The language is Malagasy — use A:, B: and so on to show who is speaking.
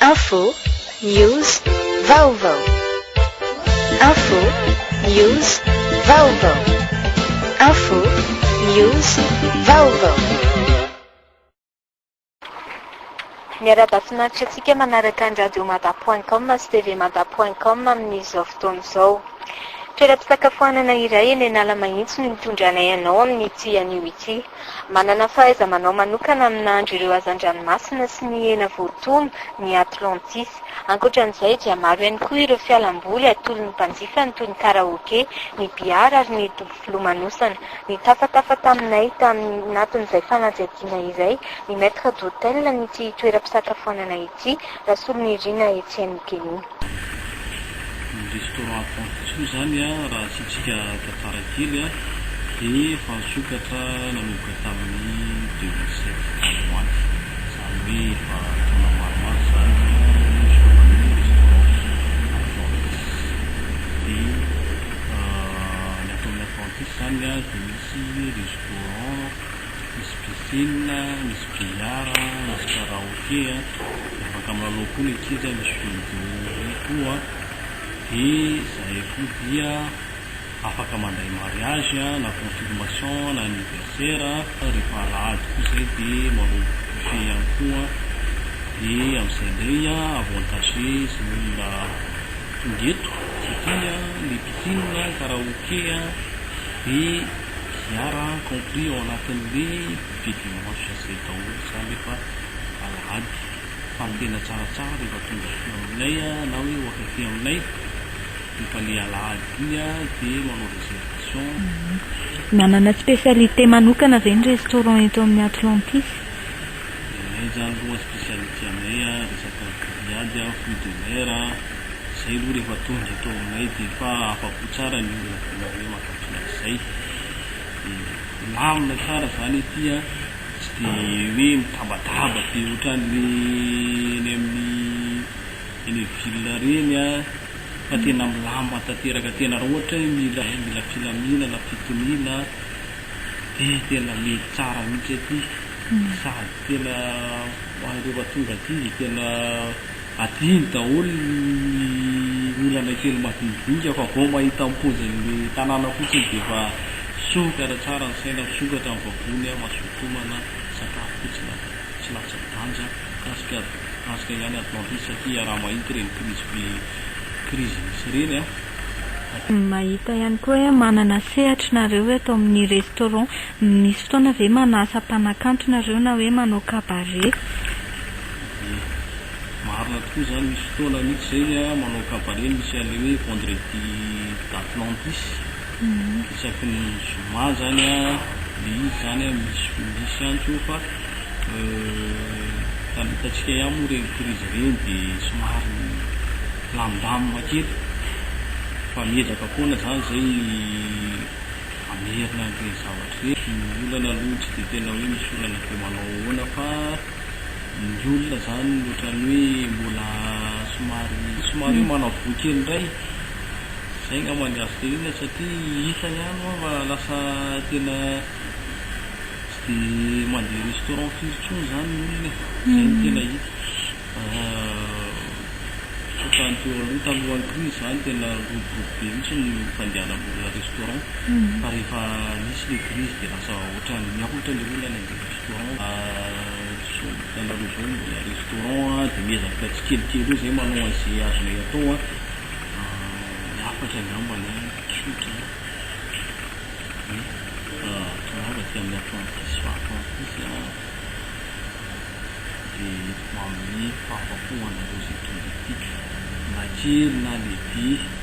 A: Info, News, Vaovao Info, News, Vaovao Info, News, Vaovao
B: Miarahaba finaritra antsika manaraka ny radiomada point com sy TV mada point com amin'izao fotoana izao. Toeram-pisakafoanana iray eny Analamahitsy no nitondranay anao amin'ity anio ity. Manana fahaiza-manao manokana amin'ny nahandro ireo hazan-dranomasina sy ny hena voatono ny Atlantis. Ankoatra an'izay dia maro ihany koa ireo fialamboly atolon'ny mpanjifany toy ny karaoke, ny bihary ary ny dobo filomanosana. Nitafatafa taminay tamin'ny anatin'izay fanadihadiana izay ny maître d'hôtel an'ity toeram-pisakafoanana ity. Tsy Rasolonirina Etienne Géo. Ny restaurant
C: Pontosoa izany raha asiantsika tantara kely dia efa nisokatra nanomboka tamin'ny deux mille sept any ho any, izany hoe efa taona maromaro izany no nisokafan'io restaurant Atlantis. Dia ny ataon'ny Atlantis izany dia misy restaurant. Misy piscine, misy billard, misy karaoke, afaka milalao koa ny ankizy, misy bingo io koa, dia izay koa dia afaka mandray mariage na confirmation na anniversaire, rehefa alahady koa izay dia manao buffet ihany koa, dia amin'izay indray avantage izay olona tonga eto satria ny piscine, ny karaoke dia. Milliards a compris ao anatin'le budget dimanche izay daholo izany rehefa alahady fa ny tena tsaratsara rehefa tonga aty aminay na hoe ohatra aty aminay rehefa le alahady iny a de manao reservation.
B: Manana spécialité manokana ve ny restaurant eto amin'ny Atlantis? Ny
C: anay zany aloha spécialité anay a resaka grillade a, fruits de mer a, zay aloha rehefa tonga eto aminay de efa afa-po tsara ny olona de nareo mankafy. Izay. Milamina tsara izany ity an! Tsy dia hoe mitabataba be ohatran'ny eny amin'ny eny amin'ny ville ireny an! Fa tena milamina tanteraka tena raha ohatra hoe mila mila filaminana, fitoniana an! Dia tena mety tsara mihitsy ity sady tena ho an'ireo efa tonga aty dia tena. Adino daholo ny olana kely madinidinika fa vao mahita ny pozin'le tanàna fotsiny dia efa sokatra tsara ny saina, sokatra ny vavony, mazotomana, sakafo fotsiny aza tsy latsa-danja, mikasika mikasika ihany Atlantis satria iaraha-mahita ireny krizy be krizy misy ireny an!
B: Mahita ihany koa hoe manana sehatry nareo eto amin'ny restaurant, misy fotoana ve manasa mpanakanto nareo na hoe manao cabaret?
C: Dia marina tokoa izany, misy fotoana mihitsy izay ny ahy manao cabaret no misy an'ilay hoe vendredi d'Atlantis, isaky ny zoma izany ilay izy izany an, misy misy ihany koa fa raha ny hitantsika ihany moa ireny crise ireny dia somary milamindamina kely fa miezaka foana izany izay hamerina an'ireny zavatra ireny, ny olana aloha tsy dia tena hoe misy olana be manao ahoana fa. ny olona izany ohatran'ny hoe mbola somary somary hoe manavoa kely indray. Izay angamba ny azo tenenina satria hita ihany hoa fa lasa tena tsy dia mandeha restaurant firy intsony izany ny olona e. Izay no tena hita. Tsy ohatran'ny teo aloha talohan'ny crise izany tena miroborobo be mihitsy ny fandehanan'olona restaurant fa rehefa nisy ilay crise dia lasa ohatran'ny niahotra ilay olana indray. restaurant zao hitanareo zao dia restaurant dia miezaka tsikelikely eo zay manao an'izay azonay atao an, ny hafatra angambany an, tsotra an, tongava aty amin'ny apprenti sy faha apprenti sy an, dia ho amin'ny fahafapo ho anareo izay tonga ety na kely na lehibe.